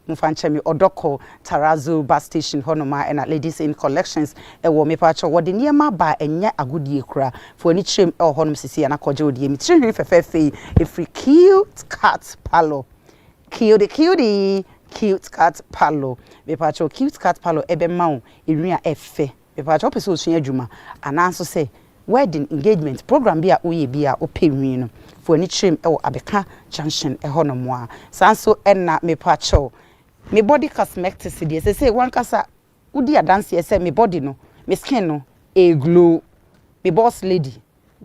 Momfa nkyɛ me ɔdɔ kɔ Tarazu bus station hɔ nom a ɛna Ladies Inn Collections wɔ. Mepakyɛw, wɔde nneɛma aba a ɛnyɛ agodie koraa. Fa w'ani kyerɛ mu wɔ hɔnom seesei na kɔgye wo deɛ. Me tiri nhwi fɛfɛɛfɛ yi firi Cute Cut Parlour. Cutie cutie Cute Cut Parlour. Mepakyɛw, Cute Cut Parlour bɛma wo nhwi a ɛfɛ. Mepakyɛ wopɛ sɛ osua adwuma anaa nso sɛ wedding, engagement, program bi a woyɛ bi a wopɛ nwii no, fa w'ani kyerɛ mu wɔ Abeka junction hɔ nom a. Saa nso na mepakyɛw me body cosmectics deɛ sesei w'ankasa wodi adanseɛ sɛ me body no, me skin no, ɛɛ glow. Me boss lady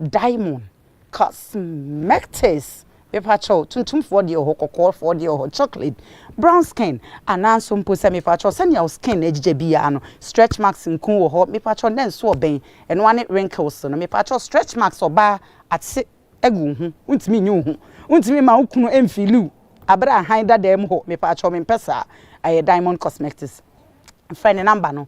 Diamond, cosmetics, mepakyɛw, tuntumfoɔ deɛ wɔ hɔ, kɔkɔɔfoɔ deɛ wɔ hɔ, chocolate, brown skin, anaa nso mpo sɛ mepakyɛw sɛnea wo skin agyigya biara no, stretch marks nko wɔ hɔ, mepakyɛw nɛ nso ɔbɛn, ɛno ara ne wrinkles no, mepakyɛw stretch marks ɔbaa ate agu wo ho, wontumi nyi wo ho, wontumi mma wo kunu mfeeli wo bere a hann da dan mu hɔ, mepakyɛw mempɛ saa, ɛyɛ Diamond cosmetics, frɛ ne number no.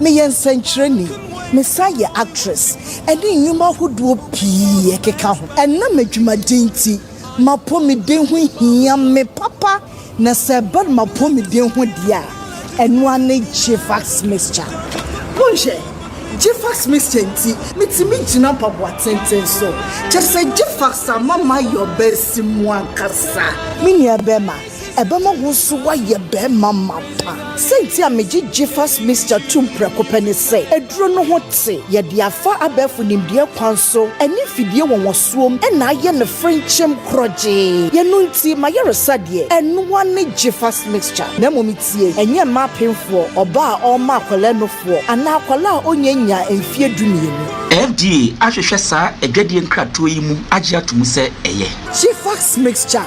Meyɛ nsɛnkyerɛnni. Mesan yɛ actress ne nnwuma ahodoɔ pii ɛkeka ho. Ɛnam adwumaden nti, m'apɔmuden ho hia me papa na sɛ ɛba no m'apɔmuden ho deɛ a, ɛno ara ne Gfax mixture. Monhwɛ, Gfax mixture nti metumi gyina mpaboa tenten so. Kyerɛ sɛ Gfax ama mayɛ ɔbaasimu ankasa. Me nuabɛrima, Ɛbɛma wo nso woayɛ barima mapa. Sɛnti a megye Jiffers Mixture tom prɛko pɛ ne sɛ, aduro no ho te, yɛde afa abɛɛfo nimdeɛ kwan so ɛne mfidie wɔnwasoɔm na ayɛ no frenkyem korɔgyee. Yɛno nti m'ayaresa deɛ, ɛnoa ne Jiffers Mixture. Na mmom tie, ɛnyɛ mma apemfoɔ, ɔbaa a ɔrema akwadaa nufoɔ anaa akwadaa a ɔnyɛ nnyaa mfeɛ dumienu. FDA ahwehwɛ saa adwadie nkratoɔ yi mu agye ato mu sɛ ɛyɛ. Jiffers Mixture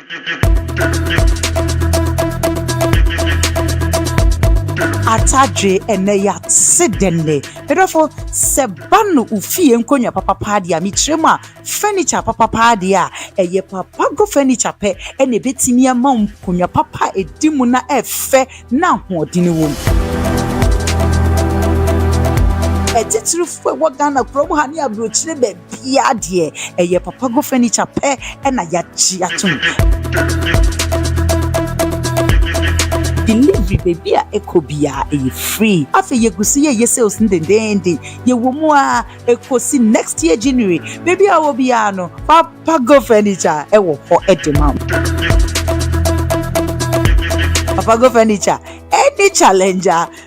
Atadwe ɛnɛ ya se dɛnɛ. Medɔfo sɛ ba no wo fie nkonnwa papa paa deɛ a mekyerɛ mu a furniture papa paa deɛ a ɛyɛ papa go furniture pɛ ɛna ɛbɛtumi ama nkonnwa papa a ɛdi mu na ɛfɛ na ahoɔden wɔ mu. Ɛtitirifoɔ ɛwɔ Ghana kurom ha ne aburokyire baabi Biaa deɛ ɛyɛ papa go furniture pɛ na yagye atom. Delivery baabi a ɛkɔ biaa ɛyɛ free. Afei yɛgu so yɛyɛ sales no dendeenden. Yɛwɔ mu aa ɛkɔsi next year January. Baabi a wowɔ biaa no papa go furniture ɛwɔ hɔ de ma wo. Papa go furniture ɛne challenger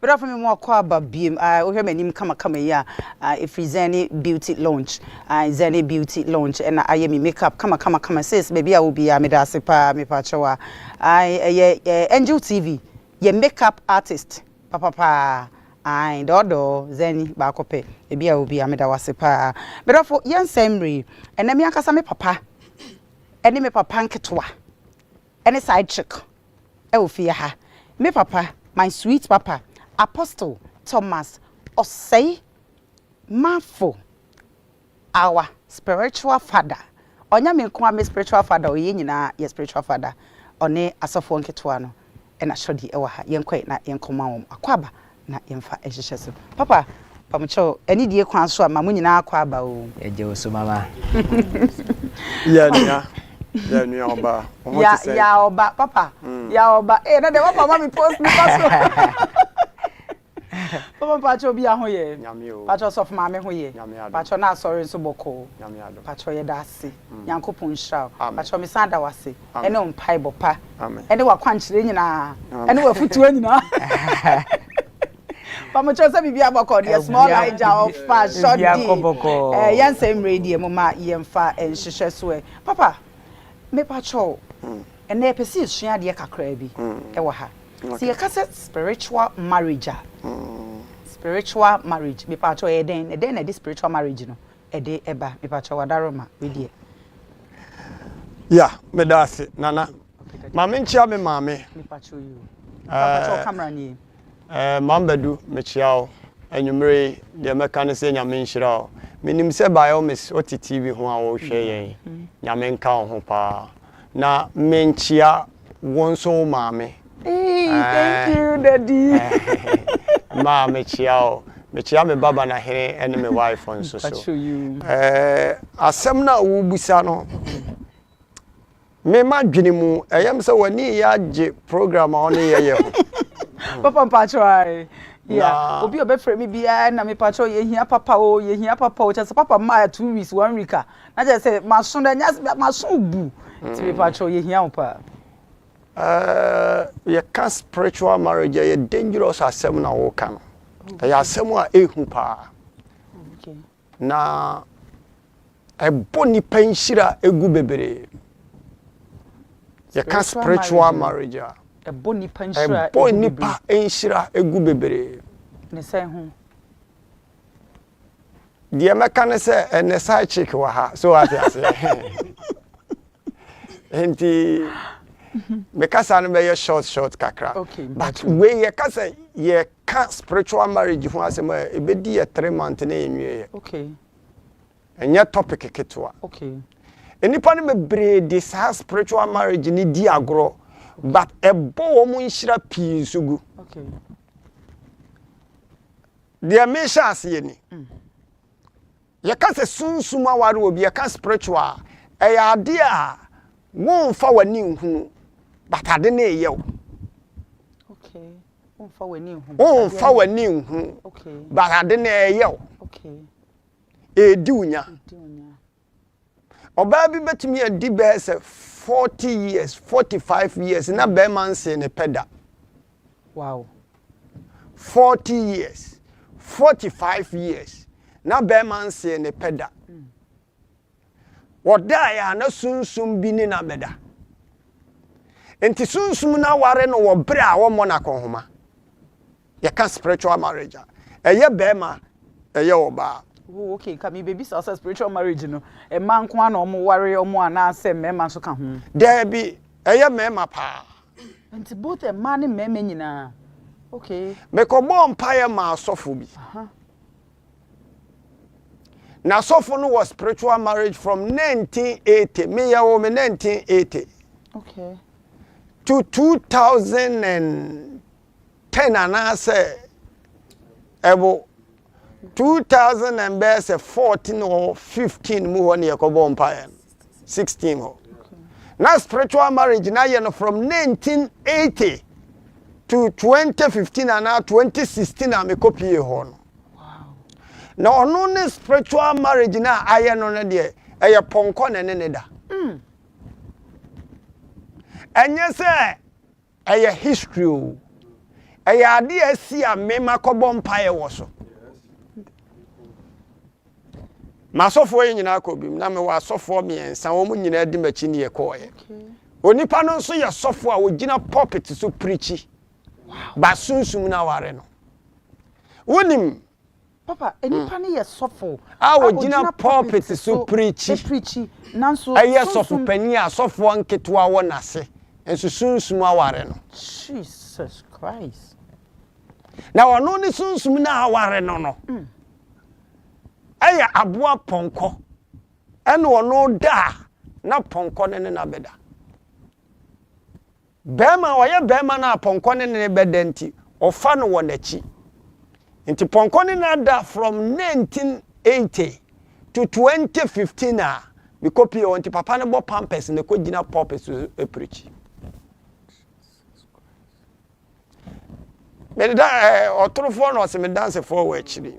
Brafo me mu akɔ aba biem a wohwɛ m'anim kamakama yi a ɛfiri Zane Beauty Launch Zane Beauty Launch ɛna ayɛ me makeup kamakama kama sis baabi a wo biara meda ase paa mepa kyɛw a ɛyɛ Angel TV yɛ makeup artist papapaa ae dɔɔdɔɔ Zane baako pɛ ebi a wo biara meda wase paa brafo yɛn sɛn mmere ɛnɛ me ankasa me papa ɛne me papa nketewa ɛne side chick ɛwɔ fie ha. Me papa, my sweet papa, Apostle Thomas Osei Marfo, our spiritual father, ɔnyɛ me nko ara me spiritual father o, yɛn nyinaa yɛ spiritual father, ɔne asɔfoɔ nketewa no, ɛna Shorty ɛwɔ ha, yɛnkɔe na yɛnkɔma wɔn akwaaba Na yɛmfa nhyehyɛ so. Papa, pamokyɛw, anidie kwan so a, ma mo nyinaa akɔ aba o. Yɛgye wo so, Mama. Yaa nua, yaa nua ɔba, wo ho te sɛn? Yaa ɔba, papa, yaa ɔba, ee na deɛ papa ama me post no kɔ so. Papa mpakyɛw obi a ho yɛ? Nyame o. Mpakyɛw sɔfo maame ho yɛ? Nyame adom. Mpakyɛw na asɔre nso bɔkɔɔ? Nyame adom. Mpakyɛw yɛda ase, Nyankopɔn nhyira wo. Amen. Mpakyɛw mesan da wo ase, ne wo mpaebɔ pa ne w'akwankyerɛ nyinaa ne w'afotuo nyinaa. Pamu kyerɛ sɛ biribi abɔkɔ deɛ small Niger ɔfa short di. Eh, yɛn sɛ mmerɛ deɛ mo ma yɛn fa nhyehyɛ so ɛ. Papa, me pa kyɛw. Ɛnna yɛpɛ sɛ yɛsua adeɛ kakraa bi ɛwɔ ha. Sɛ yɛka sɛ spiritual marriage a, spiritual marriage, me pa kyɛw ɛyɛ dɛn? Ɛdɛn na ɛde spiritual marriage no? ɛde ɛba mepakyɛw adaroma wei deɛ. Yeah medaase nana ma me nkyea me maame. Mepakyɛw you papakyɛw camera nie. Ɛɛ Maame Badu mekyea wo anwummere yi deɛ mɛka ne sɛ Nyame nhyira wo menim sɛ by all means wote TV ho a wohwɛ yɛn Nyame nka wo ho paa na menkyea Wo nso wo maame. Eii thank you daddy. Ma mekyea o. Mekyea me ba Banahene ɛne me wife nso so. Eh asɛm no a wobisa no me madwene mu ɛyɛ me sɛ w'ani reyɛ agye program a ɔne yɛ yɛ ho. Papa mpakyɛw ae yeah obi a ɔbɛfrɛ me biara na mepakyɛw yɛhia papa o yɛhia papa o kyerɛ sɛ papa mmaa two weeks one week a Na kyerɛ sɛ maso no ɛnyɛ asɛm maso bu nti mepa kyɛw yɛhia wo paa. Ɛɛ yɛka spiritual marriage ɛyɛ dangerous asɛm na woka no ɛyɛ asɛm a ehu paa na ɛbɔ nipa nhyira egu bebree yɛka spiritual marriage a ɛbɔ nipa nhyira egu bebree ne sɛn ho. Deɛ mɛka ne sɛ ɛnɛ side chick wɔ ha so wate aseɛ nti mekasa no bɛyɛ short short kakra but wei yɛka sɛ yɛka spiritual marriage ho asɛm a ɛbɛdi yɛ three month ne ɛnwieɛ ɛnyɛ topic ketewa nnipa no bebree de saa spiritual marriage ne di agorɔ but ɛbɔ wɔn nhyira pii nso gu Deɛ mehyɛ aseɛ ni. Yɛka sɛ sunsum aware wɔ bi yɛka spiritual a, ɛyɛ adeɛ a wonfa w'ani nhunu but ade no reyɛ wo. Okay. Wonfa w'ani nhunu. Wonfa w'ani nhunu. Okay. But ade no reyɛ wo. Okay. Ɛredi wo nya. Ɔbaa bi bɛtumi adi bɛyɛ sɛ forty years, forty five years na bɛrima nsee ne pɛ da. Wow. Forty years, forty five years na bɛrima nsee ne pɛ da. Mm. Wɔdaeɛ a na sunsum bi ne no abɛda. Nti sunsum no aware no wɔ berɛ a wɔmmɔ no akɔnhoma. Yɛka spiritual marriage a, ɛyɛ barima, ɛyɛ ɔbaa. Oh okay, nka mebebisa wo sɛ spiritual marriage no, mmaa nko ara na wɔn ware wɔn anaa sɛ mmarima nso ka ho? Daabi, ɛyɛ mmarima paa. Nti both mmaa ne mmarima nyinaa, okay. Mekɔbɔɔ mpaeɛ maa asɔfo bi. Aha. Na asɔfo no wɔ spiritual marriage from 1980, me yɛ wɔ me 1980. Okay. To 2000 and. Ten anaasɛ ɛbo two thousand and bɛyɛ sɛ fourteen or fifteen mu hɔ ne yɛkɔbɔɔ mpaeɛ no, sixteen hɔ. Na spiritual marriage no ayɛ no from nineteen eighty to twenty fifteen anaa twenty sixteen a mekɔpuee hɔ no. Na ɔno ne spiritual marriage no a ayɛ no no deɛ, ɛyɛ pɔnkɔ na ɛne ne da. Ɛnyɛ sɛ Ɛyɛ history o. Ɛyɛ ade a asi a me makɔbɔ mpaeɛ wɔ so. M'asɔfoɔ yi nyinaa kɔ bim. Na mewɔ asɔfoɔ mmiɛnsa, wɔn nyinaa di m'akyi ne yɛkɔeɛ. Onipa no nso yɛ sɔfoɔ a ɔgyina pulpit so pirikyi, but sunsum no aware no. Wonim. Papa, nipa no yɛ sɔfo a ogyina pulpit so preachi, nanso sunsum. Ɛyɛ sɔfo panyin a asɔfoɔ nketewa wɔ n'ase, nso sunsum aware no. Jesus Christ. Na ɔno ne sunsum no a aware no no yɛ aboa pɔnkɔ, ɛna ɔno da a, na pɔnkɔ no ne no abɛda. Barima a ɔyɛ barima no a pɔnkɔ ne ne bɛda nti, ɔfa no wɔ n'akyi. Nti pɔnkɔ ne no da from 1980 to 2015 a me kɔ pie hɔ nti papa no bɔ pampers na ɛkɔ gyina pulpit so preach. Meda ɛɛ ɔtorofoɔ na ɔse me dansefoɔ wɔ akyiri.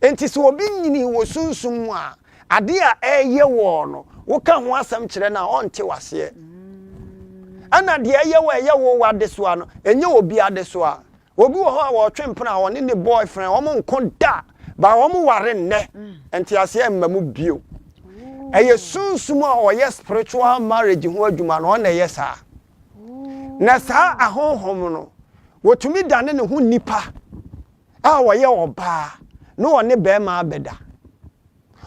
Enti sɛ obi nyinii wɔ sunsum mu a, ade a ɛreyɛ wo no, woka ho asɛm kyerɛ no a, ɔnte wo aseɛ. Ɛna deɛ ɛyɛ wo a ɛyɛ wo w'adesoa no, ɛnyɛ obi adesoa. Obi wɔ hɔ a wɔtwe mpena a ɔne ne boyfriend wɔn nko da, but wɔn ware nnɛ, nteaseɛ mma mu bio. Ɛyɛ sunsum a ɔyɛ spiritual marriage ho adwuma no, ɔno na ɛyɛ saa. Na saa ahonhom no, wɔtumi dane ne ho nnipa. a ɔyɛ ɔbaa na ɔne barima abɛda.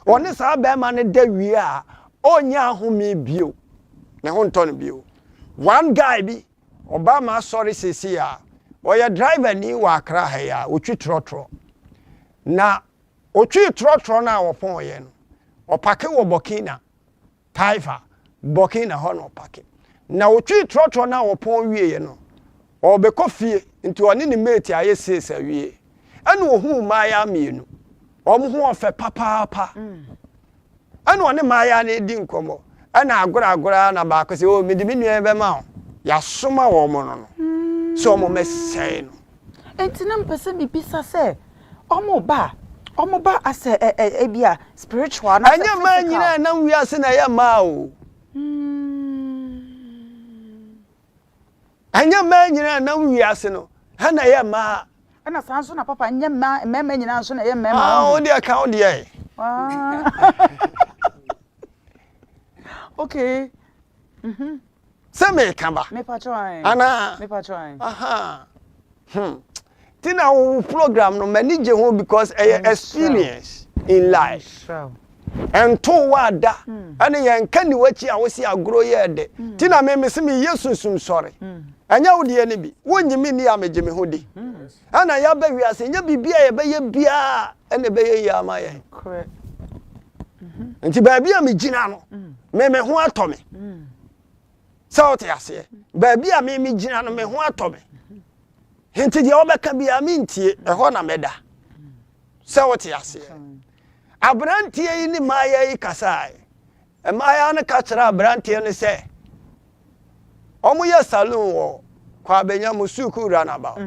Ɔne saa barima no da wie a, ɔnyɛ ahome bio. Ne ho ntɔ no bio. One guy bi, ɔbaa ma asɔre seesei a, ɔyɛ driver ni wɔ Accra ha yi a, ɔtwi trɔtrɔ. Na ɔtwii trɔtrɔ no a ɔpɔn yɛ no, ɔpake wɔ Burkina. Taifa, Bɔke na hɔ na ɔpake. Na wotwee trɔtrɔ no a wɔpɔn wieeɛ no, ɔrebɛkɔ fie nti ɔne ne mate ayɛ sees awie. Ɛna ɔhuu mmaayaa mmienu. Wɔn ho yɛ fɛ papaapa. Ɛna ɔne mmaayaa no redi nkɔmmɔ. Ɛna agorɔ agorɔ ara na baako sɛ, Oh, mede me nua yi bɛma wo. Yɛasoma wɔn no no sɛ wɔmmɛsɛe no. Enti na mepɛ sɛ mebisa sɛ ɔmo ba a ɔmo ba as a ebia spiritual anaasɛ physical. Ɛnyɛ mmaa nyinaa a ɛnam wiase na ɛyɛ mmaa o. Ɛnyɛ mmaa nyinaa a ɛnam wiase no na ɛyɛ mmaa. Ɛna saa nso na papa ɛnyɛ mmaa mmarima nyinaa nso na ɛyɛ mmarima. Ah, wo deɛ ka wo deɛ. Okay. Mm-hmm. sɛ meka ba anaa ahaa hmm ti na wo program no m'ani gye ho because ɛyɛ experience in life ɛnto wo ada ɛne yɛn nka ni w'akyi a wosi agorɔ yɛ ɛde ti na me mese meyɛ sunsum sɔre ɛnyɛ wo deɛ no bi wonyi me ni a megye me ho di Ɛna yɛaba wiase nyɛ biribi a yɛbɛyɛ biara na ɛbɛyɛ yie ama yɛn. Nti baabi a megyina no, me me ho atɔ me. Sɛ wote aseɛ, baabi a me megyina no, me ho atɔ me. Nti deɛ wɔbɛka biara mentie, ɛhɔ na mɛda. Sɛ wote aseɛ. Aberanteɛ yi ne maayɛ yi kasaeɛ. Mmaayaa no ka kyerɛɛ aberanteɛ no sɛ wɔn yɛ saloon wɔ Kwabenya mu suukuu runabout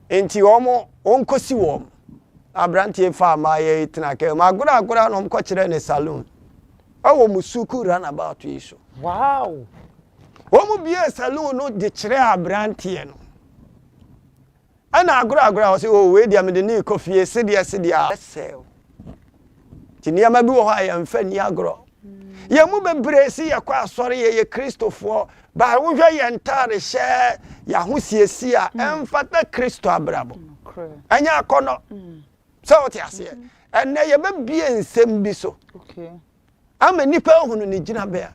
nti wɔn wɔn kɔ si wɔn. Aberanteɛ yi faa mmaayaa yi tena car mu agorɔ agorɔ a na wɔn kɔ kyerɛɛ no saloon ɛwɔ mu suukuu runabout yi so. Wow! Wɔn biee saloon no de kyerɛɛ aberanteɛ no. Ɛna agoragora a ɔse oh wei deɛ mede no rekɔ fie sedeɛ sedeɛ a ɛsɛe o. Nti nneɛma bi wɔ hɔ a yɛmfa nni agorɔ. Yɛn mu bebree se yɛkɔ asɔre, yɛyɛ Kristofoɔ, but wohwɛ yɛn ntaade hyɛ, yɛn ahosiesie a, ɛmfata Kristo abrabɔ. Ɛnyɛ akɔnnɔ. Sɛ wote aseɛ? Ɛnnɛ yɛbɛbue nsɛm bi so ama nnipa ahunu ne gyinabea.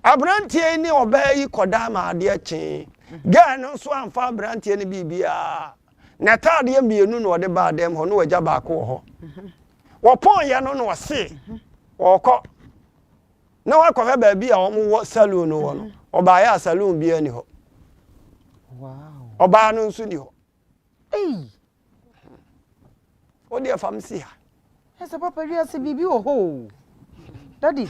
Aberanteɛ yi ne ɔbaa yi kɔdaa ma adeɛ kyee. Gɛɛ no nso amfa aberanteɛ no biribiara. N'ataadeɛ mmienu na ɔde baa dɛm hɔ na wagya baako wɔ hɔ. Wɔpɔnyɛ no na ɔse ɔɔkɔ na wakɔhwɛ baabi a wɔwɔ saloon no wɔ no. Ɔbaeɛ a saloon biara nni hɔ. Ɔbaa no nso nni hɔ. Wo deɛ fa me si ha. Ɛ sɛ papa wiase biribi wɔ hɔ o. Daddy.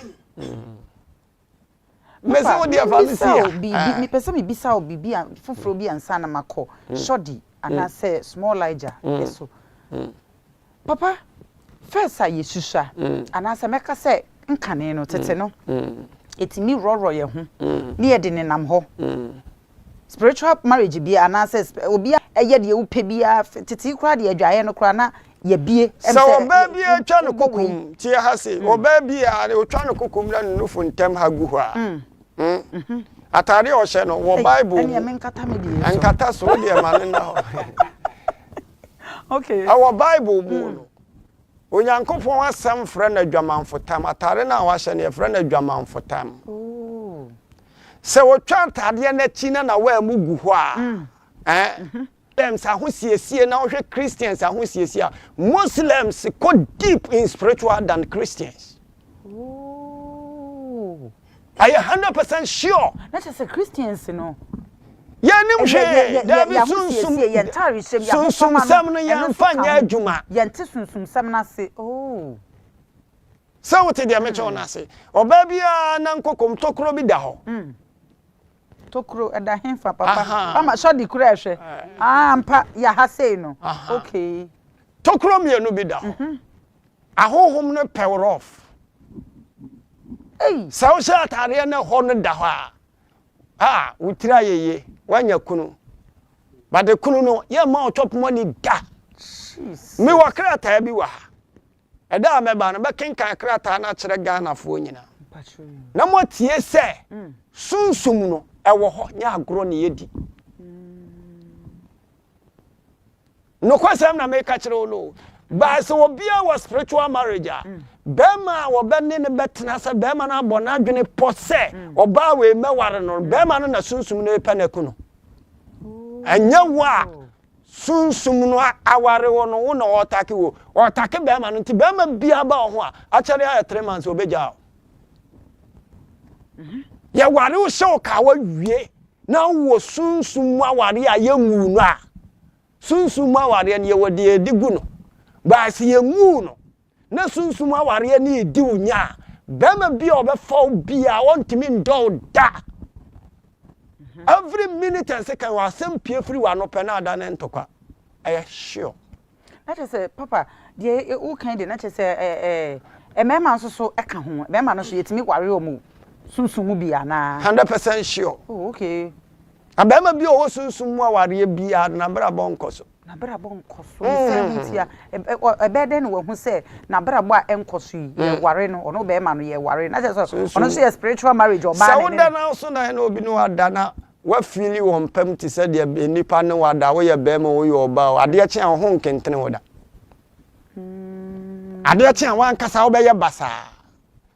Mese wo deɛ fa me si ha. Biribi mepɛ sɛ mebisa wo biribi a foforɔ bi ansa na makɔ shoddy anaasɛ small liger yɛ so. Papa first a yɛsusua anaasɛ mɛka sɛ nkane no tete no yɛtumi worɔworɔ yɛn ho ne yɛde nenam hɔ. Spiritual marriage bia anaa sɛ obi a ɛyɛ deɛ wopɛ biaa tetee koraa deɛ adwaeɛ no koraa na yɛbie ɛm sɛ Sɛ ɔbaa bi retwa no kokom, tie ha se, ɔbaa bi a ɔtwa no kokom na ne nufu ntam ha gu hɔ a, hmm, atadeɛ a ɔhyɛ no wɔ Bible mu, ɛnkata so, wo deɛ ma no nna hɔ, ɛwɔ Bible mu no, Onyankopɔn Asɛm frɛ no adwamanfotam, atadeɛ no a wahyɛ no yɛfrɛ no adwamanfotam. Sɛ wotwa ntadeɛ no akyi na na w'amu gu hɔ a, eh? Muslims ahosiesie na wohwɛ Christians ahosiesie a, Muslims kɔ deep in spiritual than Christians. Ooh. Ayɛ hundred percent sure. Na kyerɛ sɛ Christians no. Yɛnnim hwee. Dabi sunsum. Yɛn ntaare hyɛm yɛn ahofama no. Sunsumsɛm no yɛn nfa nyɛ adwuma. Yɛn te sunsumsɛm no ase. Oh. Sɛ wote deɛ mekyɛ wo no ase. Ɔbaa bi a na nkokom tokuro bi da hɔ. Mm. Tokuro, ɛda hefa, papa? Aha. Mama, sɔ de kura hwɛ. Ah, ampa, yɛ ha sei no. Aha. Okay. Tokuro mmienu bi da hɔ. Mm -hmm. Ahohom no pɛ wo rough. Ei. Sɛ wohyɛ ataadeɛ no hɔ no da hɔ a, a, wo tiri ayɛ yie, woanya kunu. But kunu no, yɛmma ɔtɔp money da. Jeez. Me wɔ krataa bi wɔ ha. Ɛda a mɛba no, mɛkenkan krataa no akyerɛ Ghanafoɔ nyinaa na moatie sɛ Sunsum no wɔ hɔ, nyɛ agorɔ na yɛdi. Nokwasɛm na meka kyerɛ wo no o, but sɛ obiara wɔ spiritual marriage a, barima a wɔbɛne no bɛtena sɛ barima no abɔ n'adwene pɔ sɛ ɔbaa wei mɛware no no, barima no na Sunsum no repɛ no aku no. Ɛnyɛ wo a Sunsum no aware wo no wo na ɔɔtake wo. Ɔɔtake bɛɛma no nti bɛɛma biaa ba wo ho a, akyɛre ayɛ three months obegyaa wo. Yɛware wo hyɛ wo kawa wie na wo wɔ sunsum mu awareɛ a yɛnwuu no a, sunsum mu awareɛ no yɛwɔ deɛ yɛde gu no. But sɛ yɛnwuu no na sunsum awareɛ no redi wo nya a, barima bi a ɔbɛfa wo biara ɔntumi ndɔ wo da. Every minute and second wɔ asɛm pie firi w'ano pɛ na ada ne ntɔkwa. Ɛyɛ sure. Na kyerɛ sɛ papa deɛ wokan deɛ na kyerɛ sɛ ɛɛ mmarima nso so ɛka ho mmarima no so yɛtumi ware wɔn sunsum mu bi anaa. Hundred percent sure. Oh okay. Abarima bi a ɔwɔ sunsum mu awareɛ biara no n'abrabɔ nkɔ so. N'abrabɔ nkɔ so yi sɛn nti a ɛbɛyɛ dɛn na wahu sɛ n'abrabɔ a ɛnkɔ so yi yɛware no ɔno bɛrima no yɛware no na kyerɛ sɛ ɔno nso yɛ spiritual marriage ɔbaa ne ne. Sɛ woda no ara so na ɛna obi ne wada na wafeeli wɔn pam te sɛ deɛ nnipa ne wada a woyɛ bɛrima o woyɛ ɔbaa o adeɛ kye a wo ho nkentene wo da adeɛ kye a wankasa wobɛyɛ basaa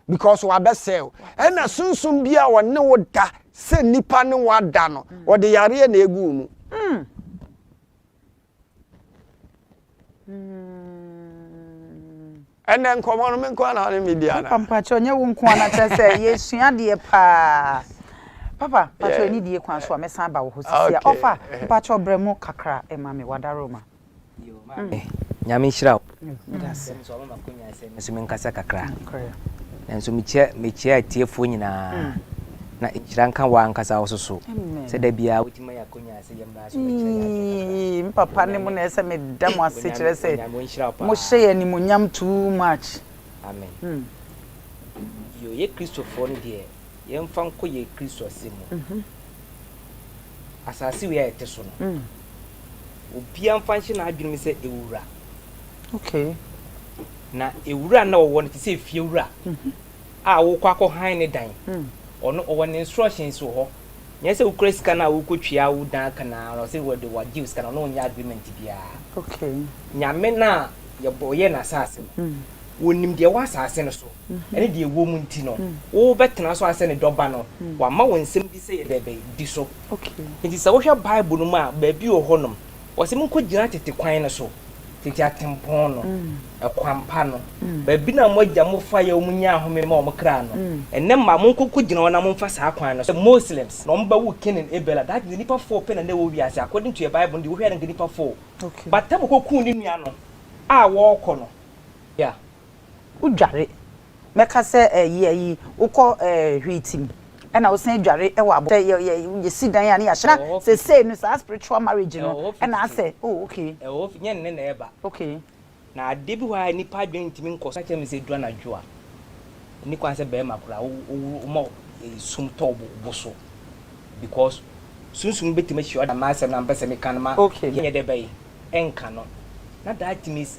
because wabɛsɛe wo ɛna sunsun bi a ɔne wo da sɛ nipa ne wo ada no ɔde mm. yareɛ na egu wo mu. Mm. ɛnɛ nkɔmɔ no me nko ana ne me dia na. papa mpatsɛ ɔnyɛ wo nko ana kyɛ sɛ yɛsua deɛ paa papa mpatsɛ ɛni die kwan so a mɛsan ba wɔ hɔ sisi a ɔfa mpatsɛ ɔbrɛ mu kakra ɛma mi wadaroma. Amen Nyame nhyira wo. Medase. Nso ɔma makonya sɛ me so me nkasa kakra. Nanso mekyia mekyia atiefoɔ nyinaa. Na nhyira nka wo ankasa wo soso. Sɛ da biara wotumi ma yɛakonya sɛ yɛmmra so bɛkyerɛ yɛn ade kakra. Me papa ne mo na ɛsɛ meda mo ase kyerɛ sɛ mo hyɛ yɛn animuonyam too much. Amen. Yo yɛ Kristofoɔ no deɛ. Yɛmfa nkɔ yɛn Kristo asɛm mu. Asase wei a yɛte so no, obiara mfa nhyɛ n'adwenem sɛ ɛwɔ wura. Okay. Na ewura na ɔwɔ no te sɛ efiewura mhm. a wokɔ akɔ han ne dan. Hmm. Ɔno ɔwɔ ne instructions wɔ hɔ. Nyɛ sɛ wokura sika no a wokɔtwia wo dan aka na ara sɛ wɔde wagye sika no ɔno ɔnyɛ agreement biara. Okay. Nyame no a yɛbɔ yɛ no asase no, hmm. wɔnim deɛ ɛwɔ asase no so. ne deɛ ɛwɔ mu nti no, wobɛtena so asɛ ne Dɔba no. Wama wo nsɛm bi sɛ yɛ dɛn bɛyɛ? Di so. Enti sɛ wohwɛ Bible no mu a, baabi wɔ hɔnom, wɔse monkɔgyina tete kwan no so, tete atempɔn no, ɛkwan pa no, baabi no a mo agya mo faeɛ a wɔn nyaa ahome ma wɔn kra no. Ɛnnɛ mma, monkɔkɔgyina hɔ na momfa saa kwan no so. Sɛ Muslims na wɔbɛwo Cain and Abel a, that means nnipa four pɛ na na ɛwɔ wiase, according to yɛn Bible no deɛ wohwɛ a na nka nnipa four. But Abel kɔkuu ne nua no a wɔrekɔ no. Yeah. wo dware mɛka sɛ eh yɛ yi wo kɔ eh hwiitim ɛna wo san dware ɛwɔ abɔ sɛ yɛ yɛ yɛ si dan a ne yɛ ahyɛ na sesei no saa spiritual marriage no ɛna asɛ oh okay. Ɛwɔ hɔ fi nyɛ nnɛ na ɛba okay. Na adeɛ bi wɔ ha a nnipa adwene ntumi nkɔ so ka kyerɛ me sɛ ɛduru anadwo a ɛnni kwan sɛ barima koraa wo wo wo woma sum tɔ wo bo so because sunsum no bɛtumi ahyia wo na m'asɛm no a mepɛ sɛ meka no ma okay yɛnyɛ dɛ bɛn ɛnka no na that means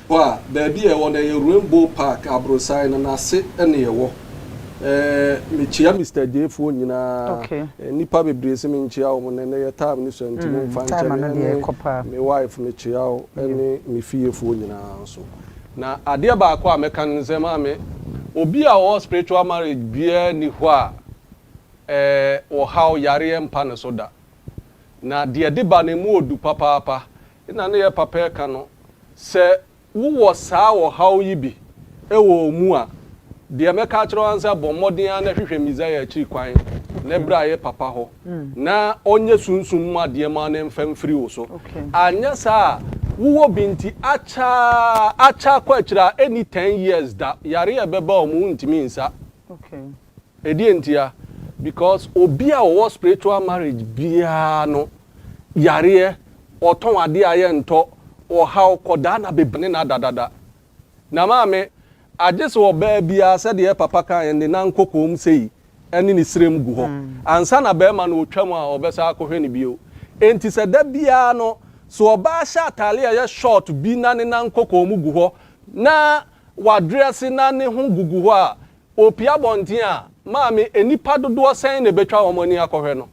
Hɔ a, baabi a ɛwɔ no, ɛyɛ Rainbow Park, aborosan no n'ase na ɛwɔ. Ɛɛ, mekyia Mister Gyei foɔ nyinaa. Okay. Nnipa bebree se menkyia wɔn, na ɛnnɛ yɛ time no sua nti momfa nkyɛ Time me no deɛ ne ɛkɔ paa. me wife, mekyia wo ne me fiefoɔ nyinaa nso. Na adeɛ baako a mɛka ne sɛ, maame, obi a ɔwɔ spiritual marriage biara nni hɔ a ɛɛ, ɔhaw, yareɛ mpa ne so da. Na deɛ ɛde ba no, ɛmu ɔdu papaapa. Nna ne yɛ papa ɛka no, sɛ wo wɔ saa ɔhaw yi bi wɔ wo mu a, deɛ mɛka akyerɛ wo ara ne sɛ bɔ mmɔden ara na hwehwɛ Messiah akyiri kwan na bra yɛ papa hɔ na ɔnyɛ sunsum mu adeɛ ma no mfa mfiri wo so. Anyɛ saa a, wo wɔ bi nti akyɛ ara, akyɛ akɔ akyiri a, ɛnni ten years da, yareɛ a ɛbɛba wɔn wontumi nsa. Ɛdeɛ ntia? Because obi a ɔwɔ spiritual marriage biara no yareɛ Ɔtɔn adeɛ a yɛntɔ, ɔhaw, kɔdaa na bebe ne no adadada. Na maame, agye sɛ ɔbaa biara, sɛdeɛ papa kaeɛ no, de n'ankokoom sei ne ne srem gu hɔ, ansa na barima no ɔtwa mu a ɔbɛsan akɔhwɛ no bio. Enti sɛ da biara no, sɛ ɔbaa hyɛ atadeɛ a ɛyɛ short bi na ne n'ankokoom gu hɔ, na wadrɛse na ne ho gugu hɔ a, ɔpue abɔnten a, maame, nnipa dodoɔ sɛn na ɛbɛtwa wɔn ani akɔhwɛ no?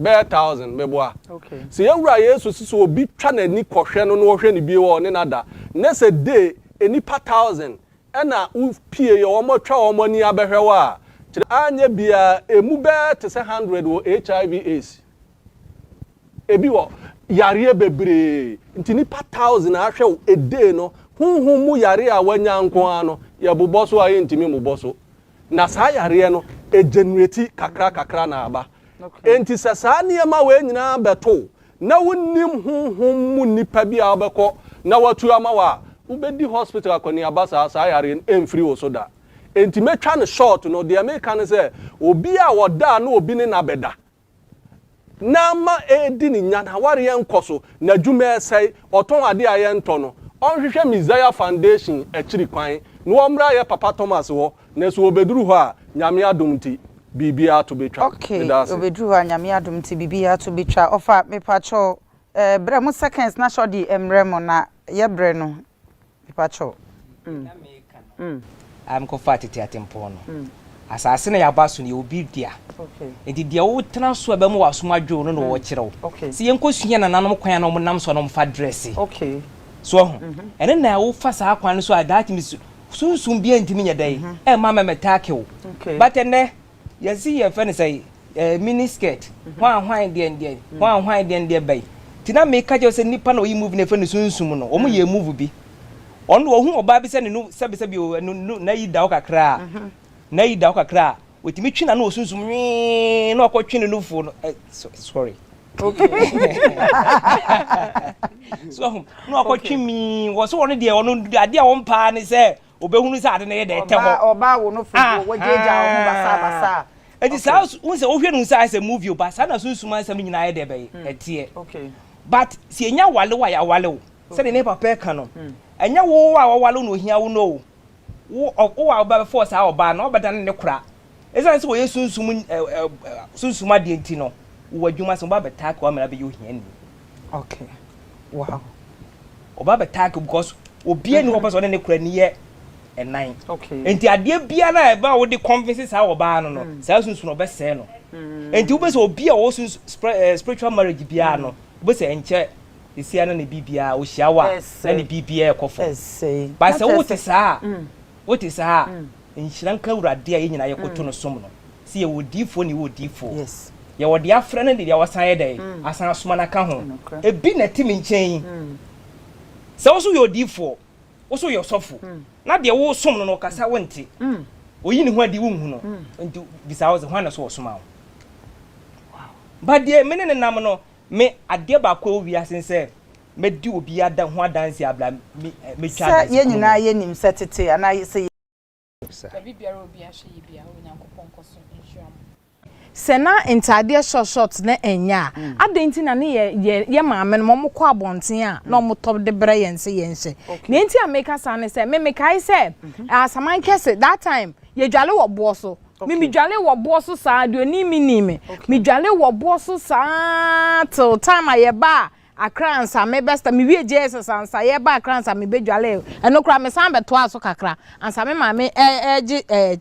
Bɛyɛ thousand, meboa. Okay. Sɛ yɛn Wura Yesu se sɛ obi twa n'ani kɔhwɛ no na ɔhwɛ no bio a ɔne no ada, ne sɛ day nnipa thousand na wo pie yɛ wɔn atwa wɔn ani abɛhwɛ wo a, kyerɛ. Anyɛ biara, ɛmu bɛyɛ te sɛ hundred wɔ HIV aids. Ɛbi wɔ. Yareɛ bebree. Nti nnipa thousand a ahwɛ wo a day no, honhom mu yareɛ a woanya nko ara no, yɛbobɔ so a yɛntumi mmobɔ so. Na saa yareɛ no, ɛgenereti kakra kakra na aba. Enti sɛ saa nneɛma wei nyinaa bɛto wo, na wonnim honhom mu nipa bi a wobɛkɔ na watu ama wo a, wobɛdi hospital akɔneaba saa, saa yareɛ no ɛmfiri wo so da. Enti mɛtwa no short no, deɛ meka ne sɛ, obi a ɔda a na obi ne no abɛda, na ama ɛredi ne nya, n'awareɛ nkɔ so, n'adwuma resɛe, ɔtɔn adeɛ a yɛntɔ no, ɔnhwehwɛ Messiah Foundation akyiri kwan na wɔmmra yɛ Papa Thomas hɔ, nanso ɔbɛduru hɔ a, Nyame adom nti, biribiara to bɛtwa. Ok, Meda ase. ɔbɛduru hɔ a, Nyame adom nti, biribiara to bɛtwa. Ɔfa, mepakyɛw, eh, brɛ mo seconds na hyɛ ɔde mmerɛ mo na yɛbrɛ no. Mepa kyɛw mm mm. Mekɔ faa tete atempɔn no. Mm. Asase na yɛaba so no yɛ obi dea. Okay. Nti deɛ wo tena so a ɛbɛma w'asom adwo no na wɔwɔ kyerɛ wo. Okay. Sɛ yɛnkɔ sua nananom kwan a na wɔn nam so a na wɔn fa dresse. Okay. So ɔho. Mm -hmm. Ɛne na wo fa saa kwan no so a that means sunsum bi ntumi nyɛ dɛ. Mm -hmm. Ɛma mɛmɛ tackle. Okay. But ɛnɛ Yɛse yɛfrɛ no sɛi eh, mini skirt Hwan hwan deɛ ndeɛ, hwan hwan deɛ ndeɛ bɛi Nti na meka kyerɛ wo sɛ nipa na ɔyi move no yɛfrɛ no sunsum no Ɔmo yɛɛ move bi Ɔno ɔhu ɔbaa bi sɛ ne no sɛbi sɛbi o ɛno no nayi da hɔ kakra a Nayi da hɔ kakra a Ɔtumi twe n'ano wɔ sunsum nwii na ɔkɔ twe ne nufoɔ no eh, sorry So wahu, na ɔkɔ twe mii Wɔse ɔno deɛ ɔno adeɛ a ɔmpɛ ara ne sɛ Obehunu sɛ ade no yɛ dɛ, ɛtɛ hɔ. Ɔbaa ɔbaa wo no fo wo gyaagyaa wo ho basaa basaa. Eti saa wo sɛ wohwɛ no sɛ ayɛ sɛ movie o but saa na sunsum asɛm no nyinaa yɛ dɛ bɛyɛ ɛteɛ but sɛ yɛnya wale wo a yɛawale wo sɛdeɛ ne papa ɛka no ɛnyɛ wo a wɔwale wo na ohia wo no o wo a wobɛfɔɔ saa ɔbaa no ɔbɛdane ne kora Esiane sɛ wɔyɛ sunsum sunsum adeɛ nti no, wɔ adwuma ase no, wɔba abɛtaake wo ama no abɛyɛ ohiani. Okay. Wow. Wɔba abɛtaake because obiara ni hɔ pɛ sɛ ɔne ne kora ni yɛ ɛnan. Okay. Nti adeɛ biara no a ɛba a wode convince saa ɔbaa no no, saa sunsum no ɔbɛsɛe no. Nti wobɛ sɛ obi a ɔwɔ suns spiritual marriage biara no, wobɛ sɛ ɛnkyɛ sesia na ne biribiara ɔhyia wo a na ne biribiara ɛkɔ fam. Ɛsɛe. But sɛ wote saa a, wote saa a, Nhyira nka Awurade a yɛn nyinaa yɛkoto no som no. Sɛ yɛwɔ odiyifoɔ ne yɛwɔ odiyifoɔ. Yɛwɔ deɛ afrɛ no ne deɛ wasan ayɛ dɛn? Asan asoma no aka ho. Ebi na ɛte me nkyɛn yi. Sɛ wo nso woyɛ odiyifoɔ, wo nso woyɛ ɔsɔfo, na deɛ woresom no no ɔkasa wonte, ɔyi ne ho adi wonhu no, nti bisa wo sɛ, hwan na ɛsɛ sɛ wɔsoma wo? But deɛ me ne no nam no, Me, adeɛ baako a ɛwɔ wiase ne sɛ mɛdi obi ada, ho adanseɛ abla me, eh, mɛtwa Sɛ adanse yɛn kunu nyinaa mu. yɛnim sɛ tete anaa yɛ, sɛ yɛ. Sa. Dabi biara obi ahwɛ yi bia onyankopɔn nkɔso nhyira mo. Sɛ na ntaadeɛ short short na ɛnyɛ a, adɛn nti na ne yɛ, yɛ, yɛ maame nom wɔkɔ abɔnten a na wɔtɔ de brɛ yɛn sɛ yɛnhyɛ? Okay. Nea nti a meka saa ne sɛ, me mekae sɛ, Asaman kɛse, that time, yɛdwale wɔ boɔ so. Me medwale wɔ boɔ so saa deɛ ɔnim me nim me medwale wɔ boɔ so saa till time a yɛbaa Accra ansa me bɛsta me wie JSS ansa yɛba Accra ansa me bɛdwale ɛno koraa me san bɛtoaa so kakra ansa me maame ɛɛgye ɛɛ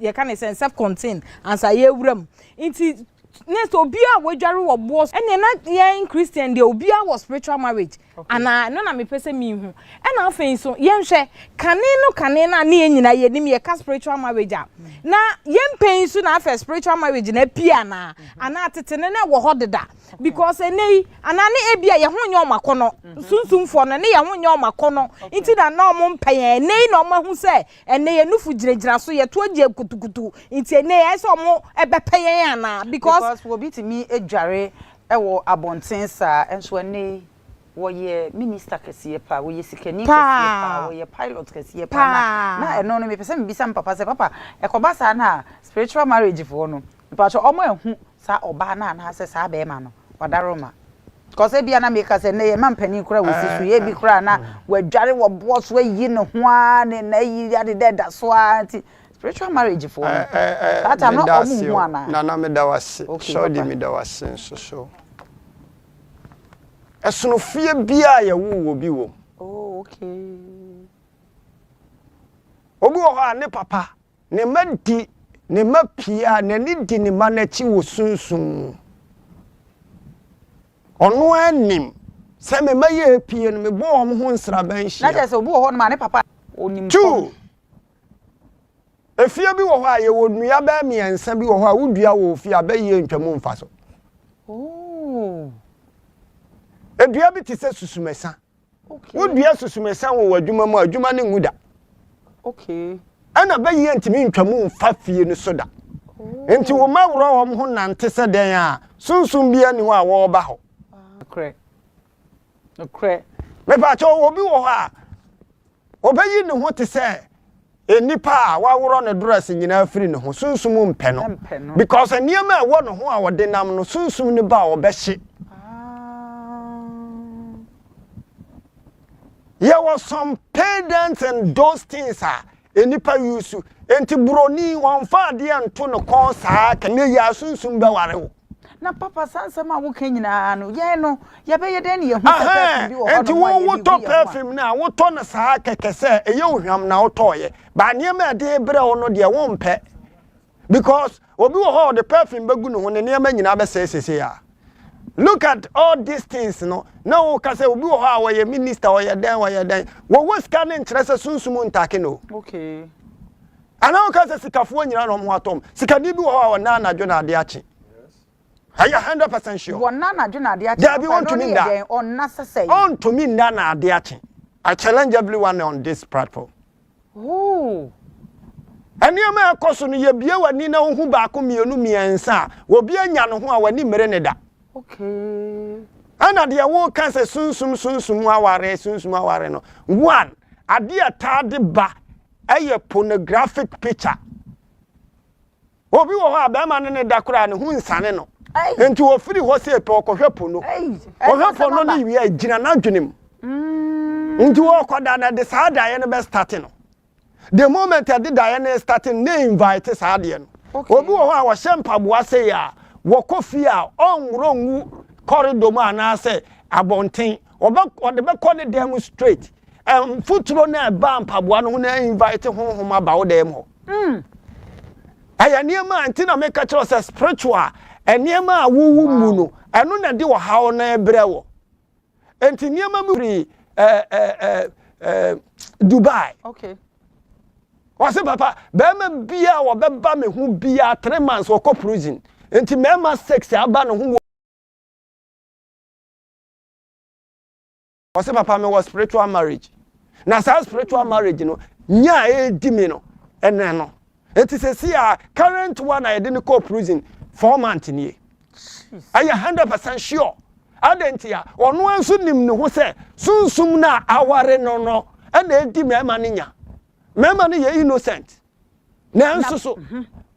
yɛka ne sɛn self contain ansa yɛwura mu nti na sɛ obiara wadware wɔ boɔ so ɛnneɛ na yɛn christian deɛ obiara wɔ spiritual marriage anaa ɛno na mepɛ sɛ mehu ɛna afei nso yɛnhwɛ kane no kane no a ne yɛn nyinaa yɛnim yɛka spiritual marriage a na yɛmpɛ nso na afɛ spiritual marriage na apie anaa anaa tete no na ɛwɔ hɔ deda because ɛnɛ yi anaa ne ebi a yɛn ho nyɛ ɔmo akɔnɔ sunsumfoɔ no ne yɛn ho nyɛ ɔmo akɔnɔ nti na na ɔmo mpɛ yɛn ɛnɛ yi na ɔmo ahu sɛ Ɛnnɛ yɛn nufo gyinagyina so, yɛto agye yɛn kutukutu. Nti ɛnnɛ ɛyɛ sɛ wɔbɛpɛ yɛn anaa? Because. Because obi tumi dware wɔ abɔnten saa, nso ɛnnɛ yi wɔyɛ Minister kɛseɛ paa, wɔyɛ sikani kɛseɛ paa, wɔyɛ pilot kɛseɛ paa. Na na ɛno no mepɛ sɛ mebisa me papa sɛ, Papa, ɛkɔba saa no a, spiritual marriage foɔ no, mepakyɛw wɔahu saa ɔbaa no anaasɛ saa bɛɛma no wadaro ma. Cos ebia na meka sɛ nnɛ yɛ mma mpanin koraa wɔ si so yɛ ebi koraa na wadware wɔ boɔ so ayi ne ho aa ne na ayi ade dɛ da so aa nti spiritual marriage foɔ no saa time no ɔmo nhu anaa. Nana meda wase Shawdy meda wase nso so ɛsono fie biaa yɛ woo wɔ bi wɔ mu. Oh okay. Obi wɔ hɔ a ne papa Ne mma di ne mma pii a n'ani di ne mma no akyi wɔ sunsum mu. Ɔno ara nim sɛ me mma yɛ pii no, mebɔ wɔn ho nsraban hyia. Na kyerɛ sɛ obi wɔ hɔ nom a ne papa onim fam. Two, efie bi wɔ hɔ a yɛwɔ nnua bɛyɛ mmiɛnsa bi wɔ hɔ a wodua wɔ ofie a bɛyɛ ntwa mu mfa so. Oh. Edua bi te sɛ susumɛsa. Okay. Wodua susumesa wɔ w'adwuma mu a, adwuma no nwu da. Okay. Ɛna bɛyi yɛ ntumi ntwa mu mfa fie no so da. Oh. Nti wo ma worɔ wɔn ho nante sɛ dɛn a, sunsum bi ani hɔ a wɔreba hɔ. Nokorɛ. Nokorɛ. Mepɛ akyɛw, obi wɔ hɔ a, Obeyi ne ho te sɛ nnipa a wɔaworɔ ne dress nyinaa afiri ne ho, sunsum rempɛ no, because nneɛma a ɛwɔ ne ho a ɔde nam no, sunsum no ba a ɔbɛhye. Yɛwɔ some pedants and those things a nnipa use, enti buroni wɔmfa adeɛ nto ne kɔn saa, ka ne yɛ a sunsum bɛware wo. na papa saa nsɛm a woka nyinaa no yɛn no yɛbɛyɛ dɛn ne yɛhu sɛ perfume bi wɔ hɔ nti wo wotɔ perfume no a wotɔ no saa kɛkɛ sɛ ɛyɛ ohwam na wotɔɔyɛ baa nneɛma a ɛde brɛ wo no deɛ wompɛ because obi wɔ hɔ ɔde perfume bɛgu ne ho ne nneɛma nyinaa bɛsɛe sese a look at all these things no na woka sɛ obi wɔ hɔ a wɔyɛ minister ɔyɛ dɛn ɔyɛ dɛn wɔwɔ sika no nkyerɛ sɛ sunsum ntake no okay Anaa woka sɛ sikafoɔ nyinaa na wɔn ho atɔ wɔn. Sikani bi wɔ hɔ a ɔnna anadwo na adeɛ akye. Are you hundred percent sure? Wɔnna anadwo na adeɛ akye. Daabi, Papa, ɛno wɔntumi no yɛ nna. dɛn? Ɔnna sɛsɛe. Ɔntumi nna na adeɛ akye. I challenge everyone on this platform. Ooh. Nneɛma a ɛkɔ so no, yɛ bue w'ani na wo hu baako, mmienu, mmiɛnsa a obi anya no ho a w'ani mmere ne da. Okay. Ɛna deɛ woka sɛ sunsum sunsum aware sunsum aware no, one, adeɛ a ɛtaa de ba ɛyɛ pornographic picture obi wɔ hɔ a bɛrima ne ne da koraa ne ho nsane no nti wɔfiri hɔ sɛ pɛ ɔkɔhwɛ po no ɔhwɛ po no ne wie a gyina n'adwene mu mm. nti wɔkɔda na de saa daeɛ no bɛstate no the moment ɛde daeɛ no state no na invite saa adeɛ no obi wɔ hɔ a wɔhyɛ mpaboa sɛ yɛ a wɔkɔ fie a ɔnworɔ ngu kɔredɔ mu anaasɛ abɔnten ɔde bɛkɔ ne dan mu straight Mfuturo no a ɛbaa mpaboa no ho no invite honhom aba wo dan mu hɔ. Hmm. Ɛyɛ nneɛma a nti na meka kyerɛ sɛ spiritual nneɛma a wowu mu no ɛno na ɛde ɔhaw no brɛ wɔ. Nti nneɛma bi firi ɛɛ ɛɛ ɛɛ Dubai. Okay. Wɔsi papa bɛrima bia a wɔbɛba me ho bia three months wɔkɔ prison. Nti mmarima six aba ne ho wɔ. Ɔse papa me wɔ spiritual marriage na saa spiritual marriage no nya a ɛredi me no ɛnɛ no eti sɛsi a current one a yɛde no kɔɔ prison four month nie ɛyɛ hundred percent sure adɛn nti a ɔno nso nim ne ho sɛ sunsum no a aware no no ɛna ɛdi mmarima no nya mmarima no yɛ innocent Nanso so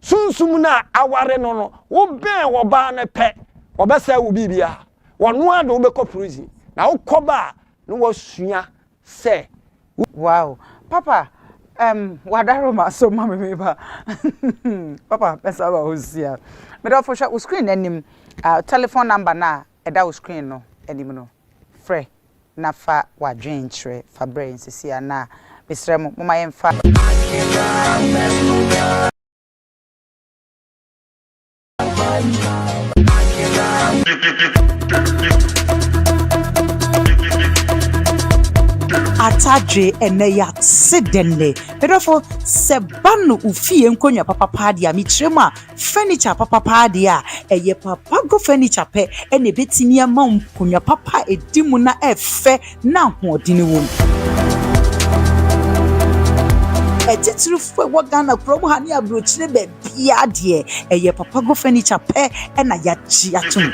sunsum no a aware no no wobɛn ɔbaa no pɛ ɔbɛsɛe wo biribiara wɔno ara de wobɛkɔ prison na wokɔba a na wasua sɛ Wow papa um wadaro ma so ma me me ba papa mɛsa ba hɔ sia medɔfo hwɛ wo screen no anim uh, telephone number no a ɛda wo screen no anim no Frɛ na fa w'adwene kyerɛ. Fa brɛ yɛn seesei ara. Mesrɛ mo, momma yɛmfa. Atadwe ɛnɛ yɛase dɛn nnɛ. Medɔfo sɛ ba no wo fie nkonwa papapaa deɛ a mekyerɛ mu a. Furniture papa paa deɛ a, ɛyɛ papa go furniture pɛ na ɛbɛtumi ama nkonnwa papa a ɛdi mu na ɛfɛ na ahoɔden wɔ mu. Atitirifoɔ ɛwɔ Ghana kurom ha ne aburokyire baabiara deɛ, ɛyɛ papa go furniture pɛ na yɛagye atom.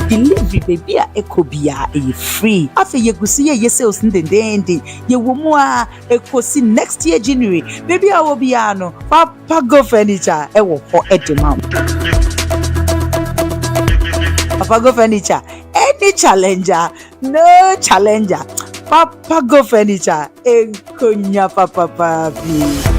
delivery baabi a ɛkɔ biara ɛyɛ free afei yɛgu so yɛyɛ sales no dendeenden yɛwɔ mu a Ekosi next year January, baabi a wɔ biara no, Papa Go Furniture ɛwɔ hɔ ɛde ma wo. Papa Go Furniture, any challenger, no challenger. Papa Go Furniture, nkonya papapa bi.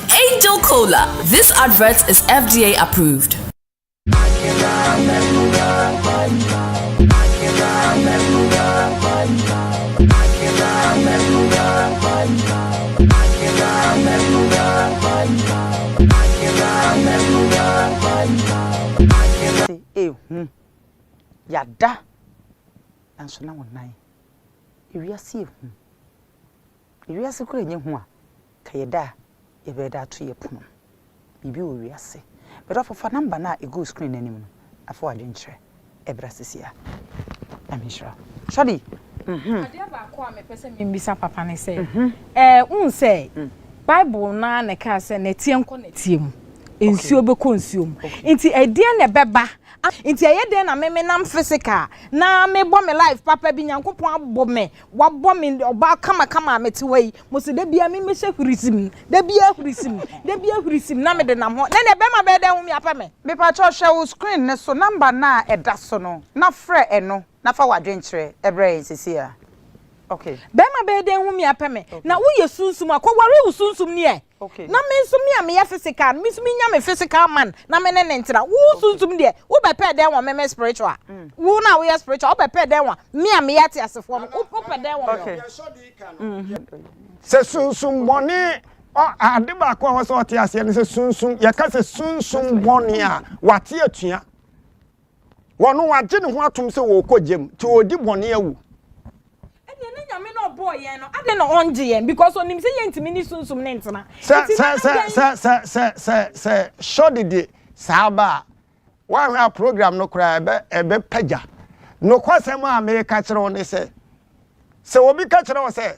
Angel Cola, this advert is FDA approved. ehu yada nanso na wɔnan ewiase ehu Wiase koraa nyɛ hu a, ka yɛ da a yɛbɛyɛ de ato yɛ pono. Biribi wɔ wiase. M'dɔfo fa number no a ɛgu wo screen no anim no na fa w'adwene kyerɛ ɛbra sesia. Nyame nhyira wo. Shadi, mhm. Adeɛ baako a mepɛ sɛ membisa papa ne sɛ, ɛɛ wohu sɛ Bible no ara na ɛkaa sɛ nɛteɛ nkɔ nɛteɛ mu, nsuo bɛkɔ nsuo mu. Nti ɛdeɛn na ɛbɛba? Nti ɛyɛ dɛn na me menam physical na mebɔ me life papa bi, Nyankopɔn abɔ me Wabɔ me ɔbaa kamakama a mete hɔ yi. Mo se da biara me mmɛhyɛ hurisim, da biara hurisim, da biara hurisim na mede nam hɔ. Nnɛ deɛ bɛrima bɛyɛ dɛn ho me apɛ me? Mepakyɛw hwɛ wo screen no so number no a ɛda so no na frɛ ɛno na fa w'adwenkyerɛ brɛ yɛn seesei ara. Okay. Bɛrima bɛyɛ dɛn ho me apɛ me? Na woyɛ sunsum a, kɔware wo sunsum ni ɛ! Na me nso, me a meyɛ physical no, me nso menya me physical man na me ne no ntena. Wo sunsum deɛ, wobɛpɛ dɛn wɔ me me spiritual? Mm. Wo no a woyɛ spiritual, wobɛpɛ dɛn wɔ me a meyɛ ateasefoɔ no? Wopɛ dɛn wɔ me? Mm-hmm. Sɛ sunsum bɔne ade baako a wɔsɛ ɔte aseɛ no sɛ sunsum yɛka sɛ sunsum bɔne a wate atua Wɔno wagye ne ho atom sɛ ɔɔkɔ gyam nti ɔɔdi bɔne awu. Ɛneɛ ne Nyame no a ɔbɔɔ yɛn no adɛn na ɔngye yɛn because ɔnim sɛ yɛntumi ne Sunsum no ntena Sɛ nti sɛ na sɛ adɛn. sɛ sɛ sɛ sɛ sɛ Shorty de saa ba a, woanhwɛ a program no koraa ɛbɛ ɛbɛ pagya. Nokwasɛm a meeka kyerɛ wo ne sɛ, sɛ obi ka kyerɛ wo sɛ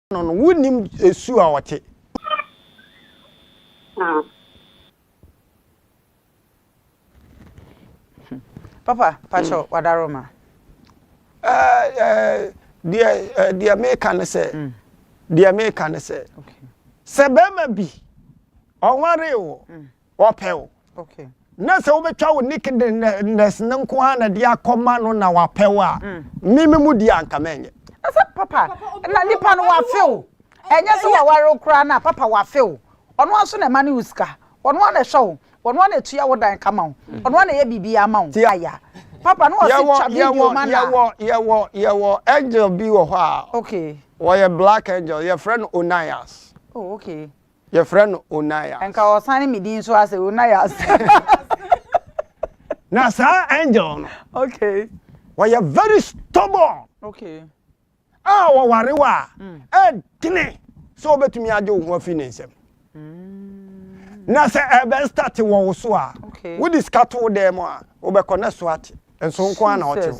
no no, wonnim su a ɔte. Papa, pakyɛ wadaro ma. Deɛ meka ne sɛ, deɛ meka ne sɛ, sɛ bɛrima bi ɔnwaree wo, ɔpɛ wo. Na sɛ wobɛtwa wo nakedness no nko ara na de akɔma no na wapɛ wo a, me me mu di a nka mɛnyɛ. Ɛsɛ papa na nipa no wafe wo. Ɛnyɛ sɛ waware wo koraa no a papa wafe wo. Ɔno ara nso na ɛma ne wo sika. Ɔno ara na ɛhwɛ wo. Ɔno ara na ɛtua wo dan ka ma wo. Ɔno ara na ɛyɛ biribiara ma wo. Aya. Papa na ɔse twa video ma no a. Yɛwɔ yɛwɔ yɛwɔ angel bi wɔ hɔ a. Okay. Ɔyɛ black angel yɛfrɛ no Onias. Oh okay. Yɛfrɛ no Onias. Nka ɔsan ne me din nso asɛ Onias. Na saa angel no. Okay. Wɔyɛ very stubborn. Okay. A wɔware wo a, mm. ɛdene sɛ wobɛtumi agye wo ho afiri ne nsam. Mm. Na sɛ ɛbɛn start wɔ wo so a, wode sika to wo dan mu a, wobɛkɔ na so ate. Nso nko ara na ɔte wo.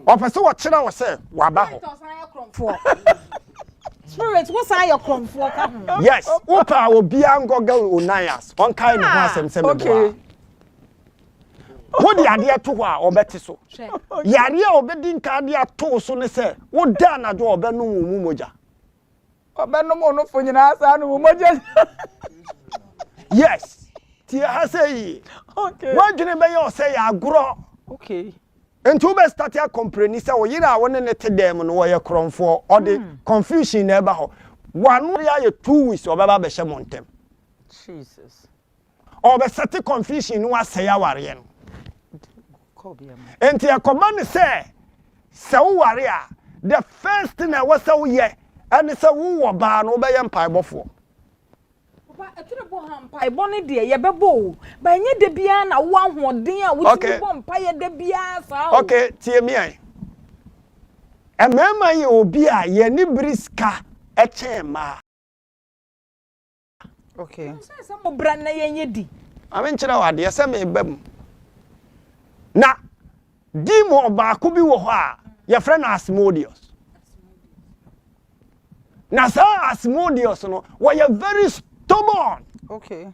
Wɔpɛ sɛ wɔkyerɛ wo sɛ waba hɔ. Spirit ɔsan yɛ korɔmfoɔ. Spirit wosan yɛ korɔmfoɔ ka ho. Yes, wopɛ a obiara nkɔ ga Onias, ɔnkae ne ho asɛm sɛ meboa a. Wode adeɛ to hɔ a, ɔbɛte so. Yareɛ a ɔbɛdi nka de ato wo so ne sɛ, woda anadwo a, ɔbɛnom wo mu mogya. ɔbɛnom wo nofo nyinaa saa no wo mogya yes tie ha sɛ yie woadwene bɛyɛ ɔsɛ yɛ agorɔ nti wobɛstate akɔmprani sɛ wo yere a wo ne ne te dan mu no wɔyɛ korɔmfoɔ ɔde hmm. confusion na ɛba hɔ wano ayɛ two weeks ɔbɛba bɛhyɛ mo ntɛm ɔrebɛsɛte confusion no asɛe awareɛ no nti ɛkɔma no sɛ sɛ woware a the first thing a ɛwɔ sɛ woyɛ ɛne sɛ wowɔ baa no wobɛyɛ mpaebɔfoɔ mpaebɔ no deɛ yɛbɛbɔ o ba ɛnyɛ da biara na wo ahoɔden a wotumi bɔ mpaeɛ da biara saa o okay tie me ai mmarima yɛ obi a yɛne bere sika kyɛn mmaa Ok. Ɛno nso yɛ sɛ mo bra na yɛn yɛ di. Ma me nkyerɛ wo adeɛ sɛ me ba mu na demon baako bi wɔ hɔ a yɛfrɛ no Asmodeus. Na saa Asmodeus no wɔyɛ very stubborn. Okay.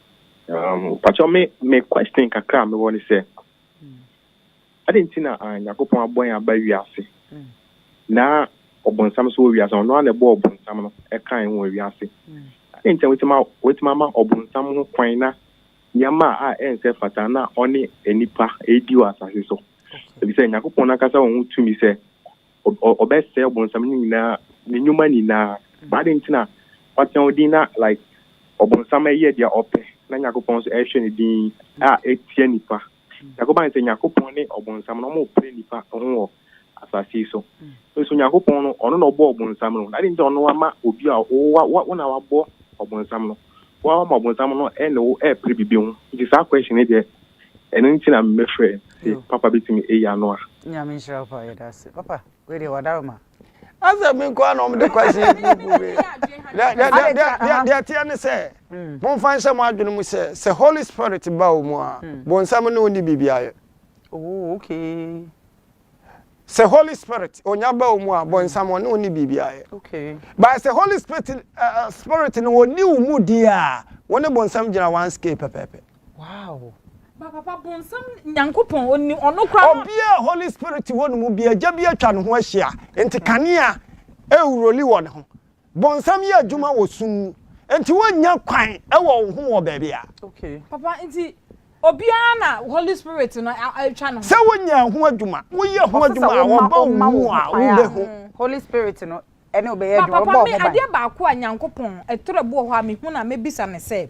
Um pakyɛw me me question kakra a mewɔ ne sɛ adɛn nti na ah, Nyankopɔn abɔ yɛn aba wiase mm. na ɔbonsam nso wɔ wiase ɔno ara na ɛbɔ ɔbonsam no ɛka yɛn wɔ wiase mm. adɛn nti na wɔtumi wɔtumi ama ɔbonsam ho kwan na nneɛma a ɛnsɛ fata na ɔne nnipa ɛredi wɔ asase so ebi sɛ Nyankopɔn n'ankasa wɔn ho tumi sɛ ɔ ɔbɛsɛɛ ɔbonsam no nyinaa ne nnwuma nyinaa. But adɛn nti na wateɛ wo din na like ɔbonsam ɛyɛ deɛ ɔpɛ na Nyankopɔn nso ɛhwɛ ne din a ɛtia nnipa? Nyankopɔn ayɛ sɛ Nyankopɔn ne ɔbonsam no wɔn pere nnipa ho wɔ asase yi so. Nso Nyankopɔn no ɔno na ɔbɔɔ ɔbonsam no, na adɛn nti na ɔno ama obi a wo wo wo na wabɔ ɔbonsam no? wo ara ma bonsam no ɛne wo ɛpere bibi ho nti saa question yi deɛ ɛno nti na me frɛ se papa bɛtumi ayi ano a. Nyame nhyira wo paa yɛda ase papa wei deɛ wada wo ma. Asɛ me nkoaa na wɔde question yi kuruku wei deɛ ɛteɛ ne sɛ momfa nhyɛ mo adwene mu sɛ sɛ holy spirit ba wo mu a bonsam ne wo nni biribi ayɛ. Ooh okay. Sɛ Holy Spirit onya ba omu a bɔnsam ɔne wo ne biribi ayɛ. Okay. But sɛ Holy Spirit uh, uh, Spirit no ɔni wo mu di a wo ne bɔnsam gyina one scale pɛpɛɛpɛ. Wow. Ba papa bɔnsam Nyankopɔn ɔni ɔno kora. Obi a Holy Spirit wɔ ne mu bi agya bi atwa ne ho ahyia nti kanea ɛwuroli wɔ ne ho. Bonsam yɛ adwuma wɔ sum mu, nti wonnya kwan wɔ wo ho wɔ baabi a. Okay. Papa, nti obiara na Holy Spirit no atwa ne ho. Sɛ wonya ɛho adwuma, woyɛ ho adwuma a, ɔba wo mu a, wobehu. Holy Spirit no ne wo bɛyɛ adwuma, ɔba wo ho ban. Papa, me adeɛ baako a Nyankopɔn, ɛtorɔ bi wɔ hɔ a mehu no a mɛbisa no sɛ.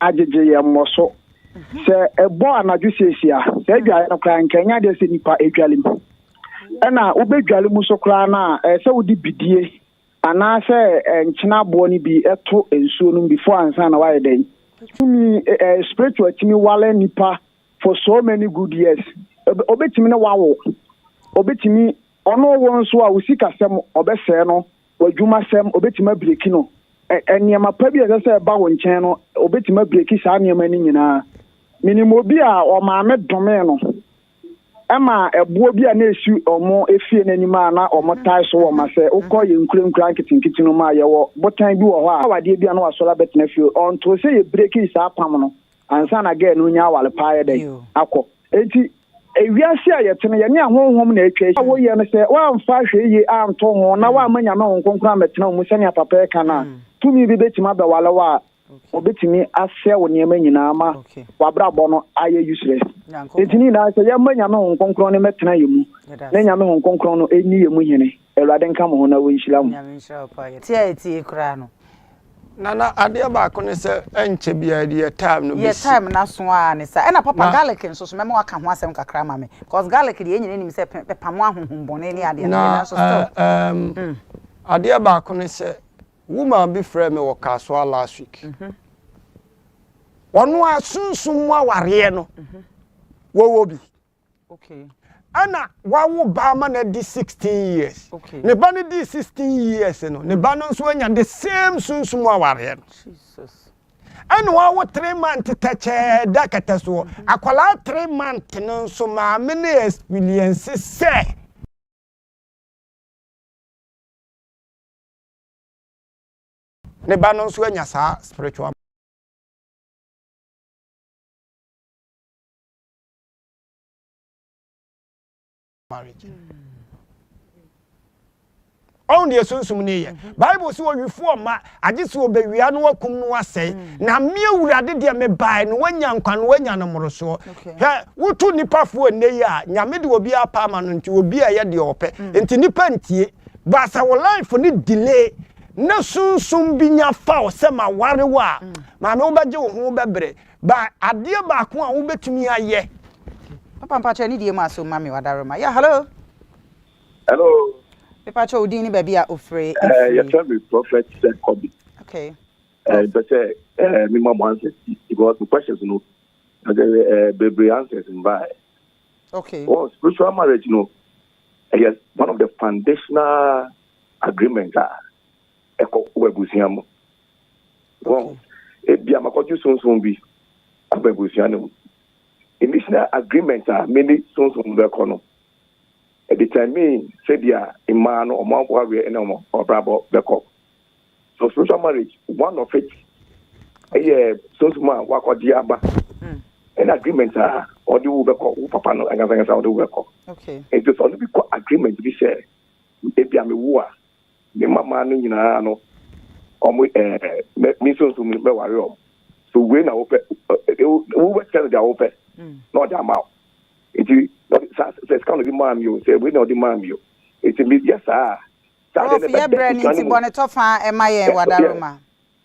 agyegye yɛn mmɔ so. Sɛ ɛbɔ anadwo siesie a, sɛ adware no koraa nka ɛnyɛ adeɛ sɛ nipa adwale mu. Ɛna wobɛdwale mu so koraa no a, ɛyɛ sɛ wode bidie anaasɛ nkyena aboɔ no bi to nsuo no mu before ansa na wayɛ dɛn? Tumi, spiritual tumi wale nipa for so many good years. Obɛtumi ne wawo, obɛtumi ɔno wo nso a wo sikasɛm ɔbɛsɛɛ no W'adwumasɛm, obetumi abreaki no. Ɛ, nneɛma pa bi a ɛsɛ sɛ ɛba wo nkyɛn no, obetumi abreaki saa nneɛma no nyinaa. Minim obi a ɔmaame domee no ma ɛboɔ bi a na esi wɔn efie no anim a na wɔtae so wɔn ma sɛ wokɔ yɛn nkurankuraa nketenkete no mu a, yɛwɔ botan bi wɔ hɔ a awadeɛ bi a na wasɔre abɛtena fie. Ɔntoo sɛ yɛbreaki saa apam no. ansa na girl no renya aware pa ayɛ dɛn? akɔ. Enti wiase a yɛte no, yɛne ahonhom na atwa ahyia. Woyɛ no sɛ woamfa hwɛ yie anto ho na woamma Nyame Honhom Kronkron ammɛtena wo mu sɛnea papa yi ka no a, tumi bi bɛtumi abɛware wo a wɔbɛtumi asɛe wo nneɛma nyinaa ama w'abrabɔ no ayɛ useless. Enti ne nyinaa sɛ yɛmma Nyame Honhom Kronkron no mmɛtena yɛn mu na Nyame Honhom Kronkron no nni yɛn mu hene. Awurade nka mo ho na ɔnhyira mo. Nyame nhyira wo paa yɛte a etie koraa no. Nana adeɛ baako ne sɛ ɛnkyɛ biara deɛ time no bɛsi. Deɛ time no aso aa ne saa. Ɛna papa garlic nso so mɛma waka ho asɛm kakra ama me cos garlic deɛ yɛn nyinaa nim sɛ ɛpamo ahonhom bɔne ne adeade deɛ nanso still. Na adeɛ baako ne sɛ woman bi frɛɛ me wɔ Kasoa last week. Ɔno ara sunsum mu awareɛ no wɔwɔ bi. Ɛna wawo ba ama no adi sixteen years. Ne ba no dii sixteen years no, ne ba no nso anya the same sunsum awareɛ no. Jesus. ɛna wawo three month tɛkyɛɛ da kɛtɛ soɔ akwadaa three month no nso maame no experience sɛ ne ba no nso anya saa spiritual ɔn deɛ sunsum ne yɛ mhm. bible sɛ ɔwifoɔ ma agye sɛ ɔbɛwia no wakum no asɛe mhm. na me awurade deɛ mebae no wanya nkwa no wanya no mmorosoɔ hwɛ woto nnipafoɔ nnɛ yi a nyame de obi apa ama no nti obi a ɛyɛ deɛ ɔpɛ mhm. nti nnipa ntie baasa wo life ne delay na sunsum bi nya faw sɛ ma ware wo a maame wobɛgye wo ho wobɛbrɛ Ba adeɛ baako a wobɛtumi ayɛ. Papa mpakyɛ ne die mu aso ma me wadaroma yeah hello. Hello. Mepakyɛ wo din ne baabi a ofre efiri. Yɛ fɛ me prophet said kobi. Okay. Mpɛ sɛ me ma mo answers bi because the questions no bebree answers mbaɛ. Okay. Well spiritual marriage no ɛyɛ one of the foundational agreement a ɛkɔ wɔ abusua mu. Wɔn, Ebia makɔgye sunsum bi aba abusua no mu. Emissional agreement a me ne sunsum no bɛkɔ no determine sɛdeɛ mmaa no wɔn awareɛ ne wɔn abrabɔ bɛkɔ. So spiritual marriage, one of it ɛyɛ sunsum a wakɔgye aba mm. ɛna agreement a ɔde wo bɛkɔ wo papa no ankasankasa ɔde wo bɛkɔ. Nti sɛ ɔno bi kɔ agreement bi sɛ ebia mewo a Ne mmammaa no nyinaa no, wɔn ɛ, me nso nso mɛware wɔn. So wei na wopɛ? Wobɛkyerɛ no deɛ wopɛ mm. na ɔde ama wo. Nti saa sɛ sika no de maa mi o, sɛ wei na ɔde maa mi o. Nti meyɛ saa. Saa deɛ ne bɛbɛ kuta ne mu. Prof, yɛ brɛ ne nti bɔ ne tɔfa ɛma yɛn wadaroma.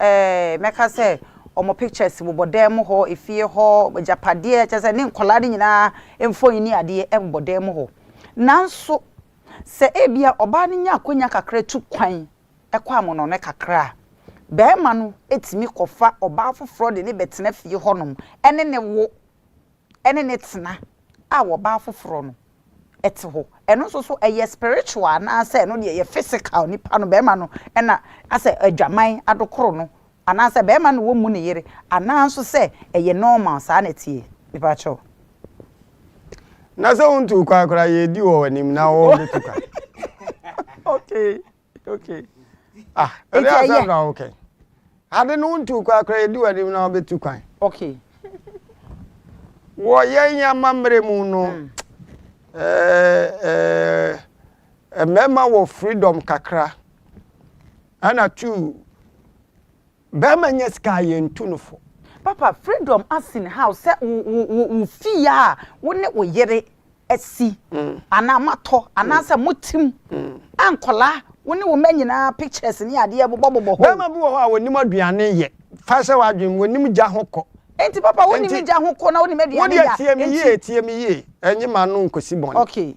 eh, mɛka sɛ wɔn pictures bobɔ dan mu hɔ, efie hɔ, agyapadeɛ, kyerɛ sɛ ne nkwadaa no nyinaa mfoni ne adeɛ ɛbobɔ dan mu hɔ. Nanso, sɛ ebia ɔbaa no nya akonnwa kakra tu kwan kɔ amono no kakra a, barima no tumi kɔfa ɔbaa foforɔ de no bɛtena fie hɔnom ne no wo. ne ne tena a ɔbaa foforɔ no te hɔ. Ɛno nso so ɛyɛ spiritual anaasɛ ɛno deɛ ɛyɛ physical nipa no barima no na asɛ adwaman adokoro no anaasɛ barima no na ɔmmu ne yere anaa nso sɛ ɛyɛ normal saa na ɛteɛ mepakyɛw. Na sɛ wontuu kwan koraa yɛredi wɔ w'anim na wobɛtu kwan. Okay. okay ah ɛdi asɛm na okay ade no wontu kwan koraa yɛdi w'anim na wobɛtu kwan okay wɔ yɛn amammerɛ mu no mm. eh, eh, eh, mmarima wɔ freedom kakra ɛna two Bɛɛma nyɛ sika a yɛn tu no fo. Papa freedom asin how sɛ wo wo wo wo fie a wo ne wo yere asi anaa mo atɔ anaa sɛ mo tim a nkɔlaa wo ne wo mma nyinaa pictures ne adeɛ bobɔ bobɔ hɔ o. Bɛɛma bi wɔ hɔ a wɔnim aduane yɛ fa hyɛ w'adwene mu wɔnim gya ho kɔ. Enti papa wonim gya ho kɔ na wonim aduane yɛ a enti. Wo deɛ tie me yie tie me yie ɛnye m'ano nkɔsi bɔne. Okay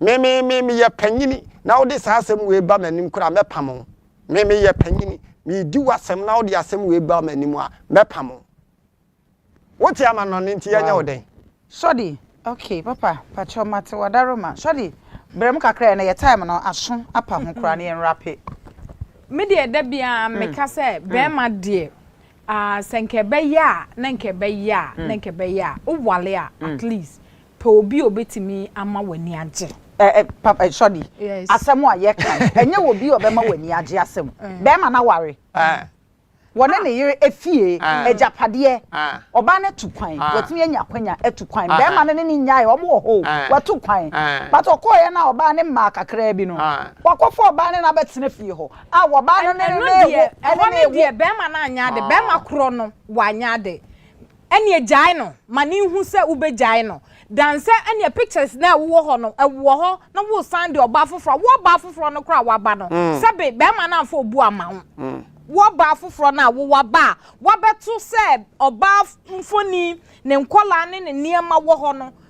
Me, me, me, meyɛ panyini, na wode saa asɛm wei ba m'anim koraa a, mɛpam wo. Me, meyɛ panyini, meredi w'asɛm na wode asɛm wei ba m'anim a, mɛpam wo. Wote amannɔne nti yɛnyɛ wo dɛn? Shorty, Okay, papa, pakyɛw mate w'adaroma. Shorty, Brɛ mu kakra, ɛnnɛ yɛ time no aso apa ho koraa na yɛnwrape. Me deɛ da biara meka sɛ bɛɛma deɛ Ah, sɛ nka ɛbɛyɛ a, na nka ɛbɛyɛ a, na nka ɛbɛyɛ a, wowale a, at least, pɛ obi a obetumi ama w'ani agye. Ɛ-ɛ, pap, ɛ, Shorty, Yes. asɛm a yɛka yi, ɛnyɛ wɔ obi a ɔbɛma w'ani agye asɛm. Barima no aware. Wɔne ne yere afie, agyapadeɛ, ɔbaa no atu kwan, watumi anya akwanya atu kwan. Barima no ne no nnyaeɛ, wɔn wɔ hɔ o, watu kwan. But ɔkɔeɛ no a, ɔbaa no mmaa kakraa bi no, wakɔfa ɔbaa no na abɛtena fie hɔ. A wɔbaa no ne no ne wo ɛhɔ ne deɛ bɛrima no anyɛ ade bɛrima korɔ no wanyɛ ade ɛneɛ gyae no ma ne nhu sɛ wobɛgyae no dan sɛ ɛneɛ pictures no a wowɔ hɔ no ɛwɔ hɔ na wosan de ɔbaa foforɔ wo ɔbaa foforɔ no koraa waba no sɛbe bɛrima no amfa obu ama wo wo ɔbaa foforɔ no a wo waba a wabɛto sɛ ɔbaa mfoni ne nkɔlaa ne ne nneɛma wɔ hɔ no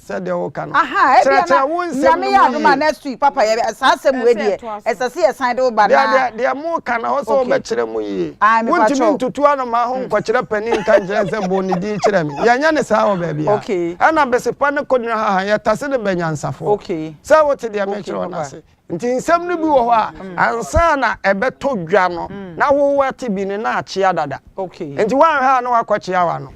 Sɛdeɛ woka no. Ahaa ebia na Kyerɛkyerɛ wo nsɛm Nyame no yɛ mu adom a yie. next week papa yɛ bɛ saa asɛm wei Ɛsɛ deɛ ɛtoa so. ɛsɛ sɛ yɛ san de wo ba Deɛ na deɛ deɛ moka no ɛhɔ sɛ Okay. wobɛkyerɛ mu yie. Ae me Wontumi patrɔ. ntutu anomaa ho nkɔkyerɛ panin nka nkyerɛ no sɛ bɔ ne din kyerɛ me. Yɛnyɛ no saa wɔ baabiara. Okay. Ɛna Besepa ne Konirahaha yɛtase no bɛ nyansafoɔ. Okay. Sɛ wote deɛ Okay mekyerɛ wo no papa. ase. Nti nsɛm no bi wɔ hɔ a, ansa na ɛbɛtɔ dwa no, na wo woate bi no na akyea dada. Nti woanhwɛ a na woakɔkyea w'ano.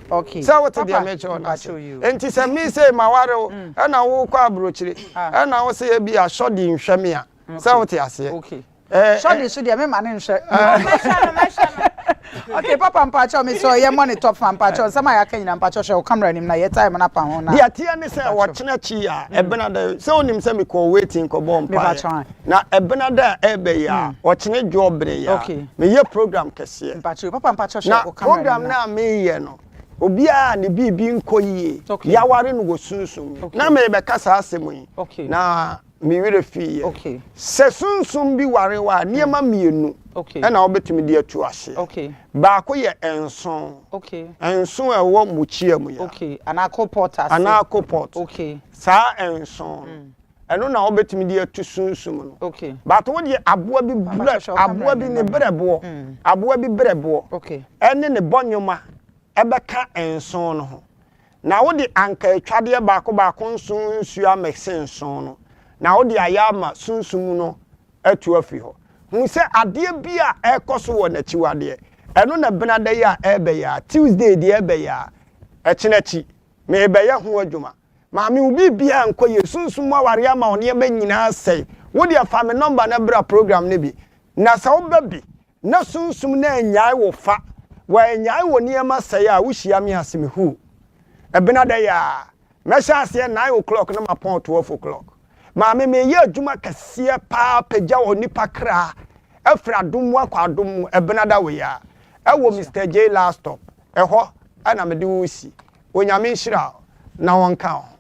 Sɛ wote deɛ merekyerɛ wo no ase? Nti sɛ me sei maware wo, ɛna wokɔ aburokyire, ɛna wo se ebia Shordy nhwɛ me a, sɛ wote aseɛ? Shordy nso deɛ memma no nhwɛ. Mɛhwɛ no, mɛhwɛ no. Okay papa mpakyɛw me sɛ yɛmmɔ ne top fa mpakyɛw nsɛm a yɛaka nyina mpakyɛw hwɛ wo camera anim na yɛ time no apa ho na Deɛ ɛteɛ ne sɛ wɔkyena kyi a ɛbena dɛ sɛ wonim sɛ mekɔɔ waiting kɔbɔɔ mpaeɛ na ɛbena dɛ a ɛɛbɛ yi a wɔkyene dwoɔ bene yi a meyɛ program kɛseɛ na program no a meyɛ no obiara a ne biribi nkɔ yie yaware no wɔ sunsum mu na merebɛka saa asɛm yi na me werɛ fiiɛ. Sɛ sunsum bi ware wo a, nneɛma mmienu na wobɛtumi de atu aseɛ. Baako yɛ nsõ, nsõ a ɛwɔ mukyia mu ya, anaa kolpɔt, saa nsõ no, ɛno na wobɛtumi de atu sunsum no. But wo deɛ aboa bi berɛ, aboa bi ne berɛboɔ, aboa bi berɛboɔ ne ne bɔnwoma bɛka nsõ no ho. Na wode anka atwadeɛ baako baako nson nsuo amekse nson no, na wode ayɛ ama sunsum no atu afiri hɔ. Hu sɛ adeɛ bi a ɛrekɔ so wɔ n'akyiwadeɛ. Ɛno na Benada yi a ɛrebɛyɛ a, Tuesday deɛ ɛrebɛyɛ a, ɛkyena akyi, merebɛyɛ ho adwuma. Maame, wo biribiara nkɔ yie. Sunsum mu awareɛ ama wo nneɛma nyinaa asɛe. Wo deɛ fa me nɔmba na bra program no bi. Na sɛ woba bi na sunsum no annyae wo fa, wɔannyae wo nneɛma sɛe a wohyia me ase me huu. Ɛbenada yi ara, mɛhyɛ aseɛ nine o'clock na mapɔn twelve o'clock. Maame meyɛ adwuma kɛseɛ paa pagya onipa kra afiri adom mu akɔ adom mu ɛbenada wei ara ɛwɔ Mister Jay last stop ɛhɔ na mede wo resi. Onyame nhyira wo na ɔnka wo ho.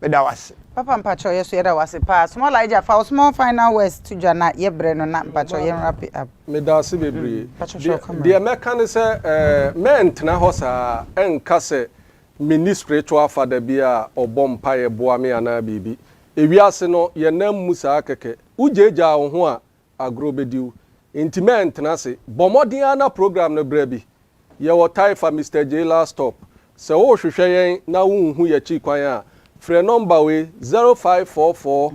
Meda wo ase. Papa mpakyɛw yɛso yɛda wo ase paa small Agya fa wo small final words to dwa na yɛ brɛ no na mpakyɛw yɛn wrap it up. Medase bebree. Mpakyɛw hwɛ wo camera. Deɛ mɛka ne sɛ mɛntena hɔ saa ɛnka sɛ menni spiritual father bi a ɔbɔ mpaeɛ boa me anaa biribi. Ewiase no yɛnam mu saa kɛkɛ. Wogyaagyaa wo ho a Agorɔ bɛdi wo nti mɛntena ase. Bɔ mmɔden ara na program no berɛ bi. Yɛwɔ Taifa Mister Jay last stop. Sɛ worehwehwɛ yɛn na wonhu yɛakyiri kwan a, frɛ nɔmba wei, 0544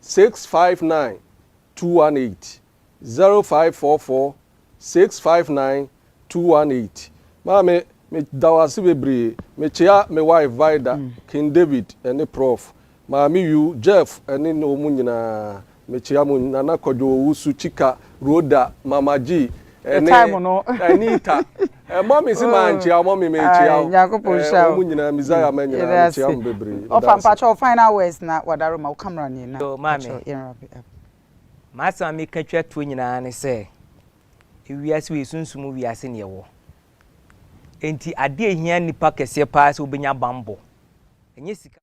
659 218, 0544. Six five nine two one eight Maame me da wo ase bebree me kyea me wife Vida, King David ɛne Prof. Maame Yu, Jeff ɛne ne ɔmo nyinaa me kyea mo Nana Kwadwo Owusu, Chika, Rhoda, Mama G ɛne Anita Ɛmɔ me se mankyea ɔmo me me kyea wo ɛɛ ɔmo nyinaa Messiah ma nyinaa me kyea mo bebree me da wo ase. M'asɛm a meka twa toɔ nyinaa ne sɛ, wiase wei, sunsum mu wiase na yɛwɔ. Enti adeɛ a ɛhia nnipa kɛseɛ paa sɛ wobɛnya bammɔ. Ɛnyɛ sika.